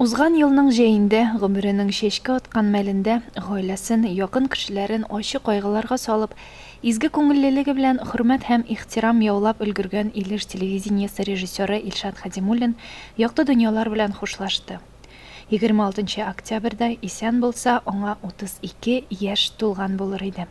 Узган елның җәендә, гомеренең чәчкә аткан мәлендә, гаиләсен, якын кешеләрен ачы кайгыларга салып, изге күңеллелеге белән хөрмәт һәм ихтирам яулап өлгергән Илеш телевидениесе режиссеры Илшат Хәдимуллин якты дөньялар белән хушлашты. Егерме алтынчы октябрьдә исән булса, аңа 32 яшь тулган булыр иде.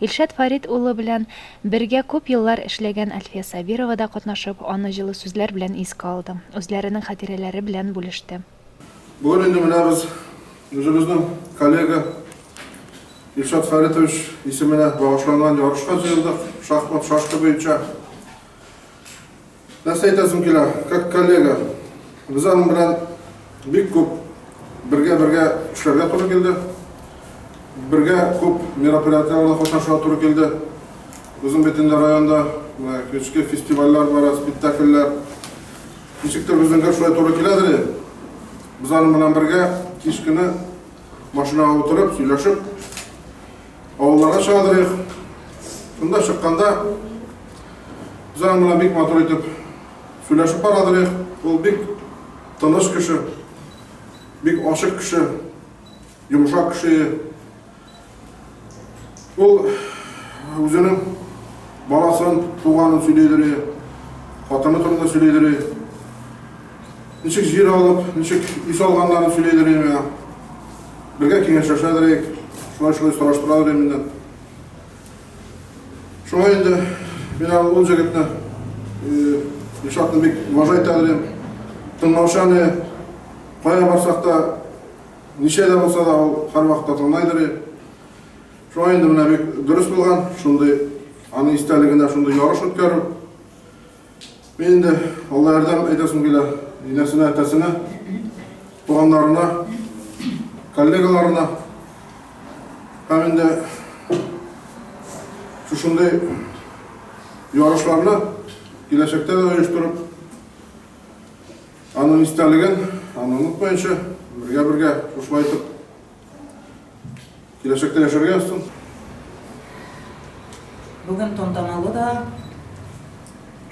Илшат Фәрит улы белән бергә күп еллар эшләгән Әлфия Сабирова да катнашып, аны җылы сүзләр белән искә алды, үзләренең хатирәләре белән бүлеште. Бүген инде менә без үзебезнең коллега Илшат Фәритович исеменә багышланган ярышка җыелдык, шахмат шашка буенча. Нәрсә әйтәсем килә, как коллега, без аның белән бик күп бергә-бергә эшләргә туры килде. Бергә күп мероприятиеләрдә катнашырга туры килде. Үзем бит инде районда көчкә фестивальләр бара, спектакльләр. Ничектер безнең гел шулай туры киләдер. Без аның белән бергә кич көне машинага утырып, сөйләшеп, Авылларга чыгадырыйк. Шунда чыкканда Җан мына бик матур итеп сөйләшеп барадырыйк. Ул бик тыныш кеше, бик ашык кеше, йомшак кеше. Ул үзенең баласын, туганын сөйләйдерә, хатыны турында сөйләйдерә. Ничек җир алып, ничек ис алганнарын сөйләйдерә. Бергә киңәшләшә дерек, шулай шулай сораштыра дерек миннән. Шулай инде мин аны ул җегетне Ишатны бик уважай итә дерем. Тыңлаучан е, кая барсак та, ничә дә булса да ул һәрвакытта тыңлай дерем. Шулай инде менә бик дөрес булган, шундый аны истәлегенә шундый ярыш үткәрү. Мин инде Алла ярдәм әйтәсем килә инәсенә, әтәсенә, туганнарына, коллегаларына һәм инде шушындый ярышларны киләчәктә дә оештырып, аның истәлеген, аны онытмаенча, бергә-бергә шушылай итеп Киләчәктә яшәргә язсын. Бүген тантаналы да,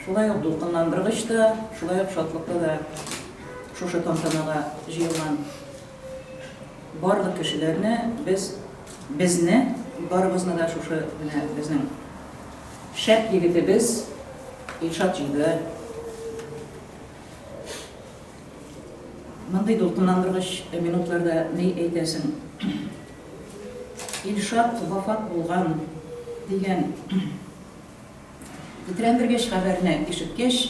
шулай ук дулкынландыргыч та, шулай ук шатлыклы да шушы тантанага җыелган барлык кешеләрне без, безне, барыбызны да шушы менә безнең шәп егетебез Илшат җиде, Мондый дулкынландыргыч минутларда ни әйтәсең? Илшат вафат булган дигән тетрәндергеч хәбәрне ишеткәч,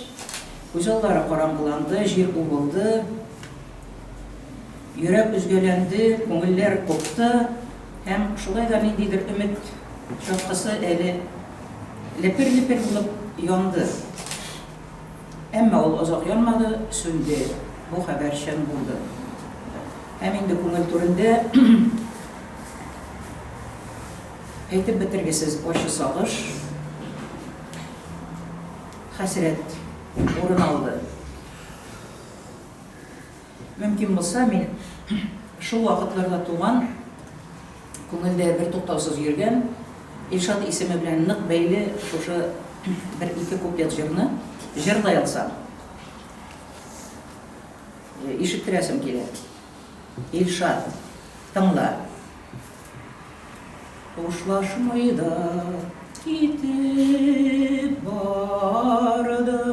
күз аллары караңгыланды, җир убылды, йөрәк өзгәләнде, күңелләр купты һәм шулай да ниндидер өмет чаткысы әле лепер-лепер булып янды. Әмма ул озак янмады, сүнде. Бу хәбәр чын булды. Һәм инде күңел түрендә әйтеп бетергесез ачы сагыш, хәсрәт урын алды. Мөмкин булса, мин шул вакытларда туган, күңелдә бертуктаусыз йөргән, Илшат исеме белән нык бәйле шушы бер-ике куплет җырны җырлый алсам, ишеттерәсем килә. Илшат, тыңла. Хушлашмый да китеп бардың.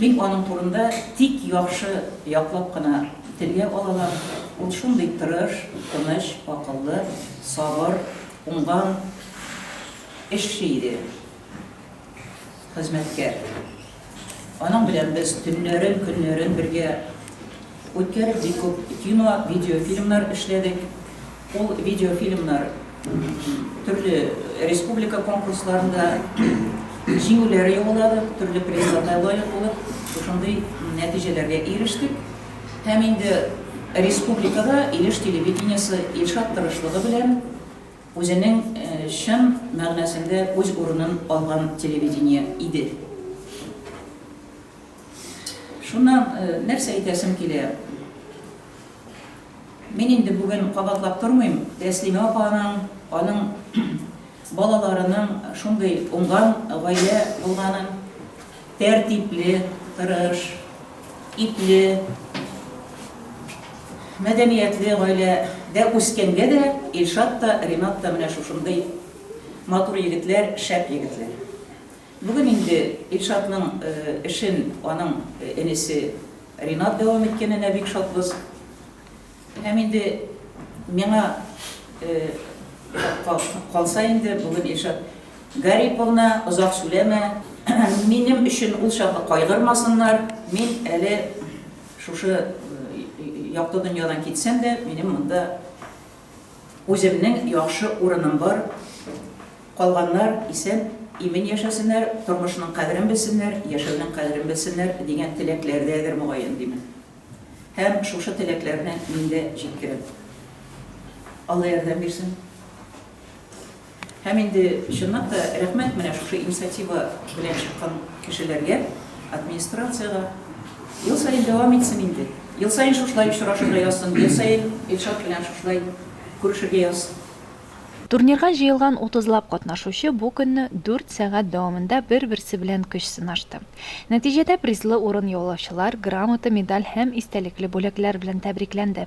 Мин аның турында тик яхшы яклап кына телгә алалам, ул шундый тырыш, тыныч, акыллы, сабыр, уңган эшче иде, хезмәткәр. Аның белән без төннәрен, көннәрен бергә үткәреп, бик күп кино, видеофильмнар эшләдек. Ул видеофильмнар төрле республика конкурсларында җиңүләр яуладык, төрле призларга лаек булып, шушындый нәтиҗәләргә ирештек. Һәм инде республикада Илеш телевидениесе Илшат тырышлыгы белән үзенең чын мәгънәсендә үз урынын алган телевидение иде. Шуннан нәрсә әйтәсем килә? Мин инде бүген кабатлап тормыйм, Тәслимә апаның, аның балаларының шундый уңган гаилә булганын, тәртипле, тырыш, ипле, мәдәниятле гаилә дә үскәнгә дә Илшат та, Ринат та менә шушындый матур егетләр, шәп егетләр. Бүген инде Илшатның эшен аның энесе Ринат дәвам иткәненә бик шатбыз. Һәм инде миңа калса инде, бүген Илшат Гариповна, озак сүләмә, минем өчен ул чакны кайгырмасыннар, мин әле шушы якты дөньядан китсәм дә, минем монда Үземнең яхшы урыным бар, калганнар исән, имин яшәсеннәр, тормышның кадерен белсеннәр, яшәүнең кадерен белсеннәр, дигән теләкләрдәдер, мөгаен, димен. Һәм шушы теләкләрне мин дә җиткерәм. Алла ярдәм бирсен. Һәм инде чынлап та рәхмәт менә шушы инициатива белән чыккан кешеләргә, администрациягә. Ел саен дәвам итсен инде. Ел саен шушылай очрашырга язсын, ел саен Илшат белән шушылай күрешергә язсын. Турнирга җыелган утызлап катнашучы бу көнне дүрт сәгать дәвамында бер-берсе белән көч сынашты. Нәтиҗәдә призлы урын яулаучылар грамота, медаль һәм истәлекле бүләкләр белән тәбрикләнде.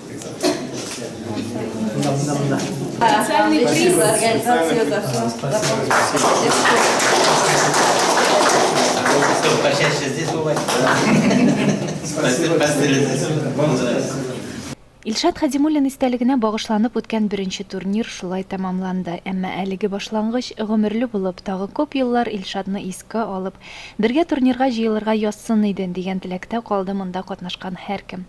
Специальный приз за организацию Почаще здесь бывать. Спасибо. Илшат Хадимуллин истәлегенә багышланып үткән беренче турнир шулай тәмамланды. Әмма әлеге башлангыч гомерле булып, тагы күп еллар Илшатны искә алып, бергә турнирга җыелырга язсын иде дигән теләктә калды монда катнашкан һәркем.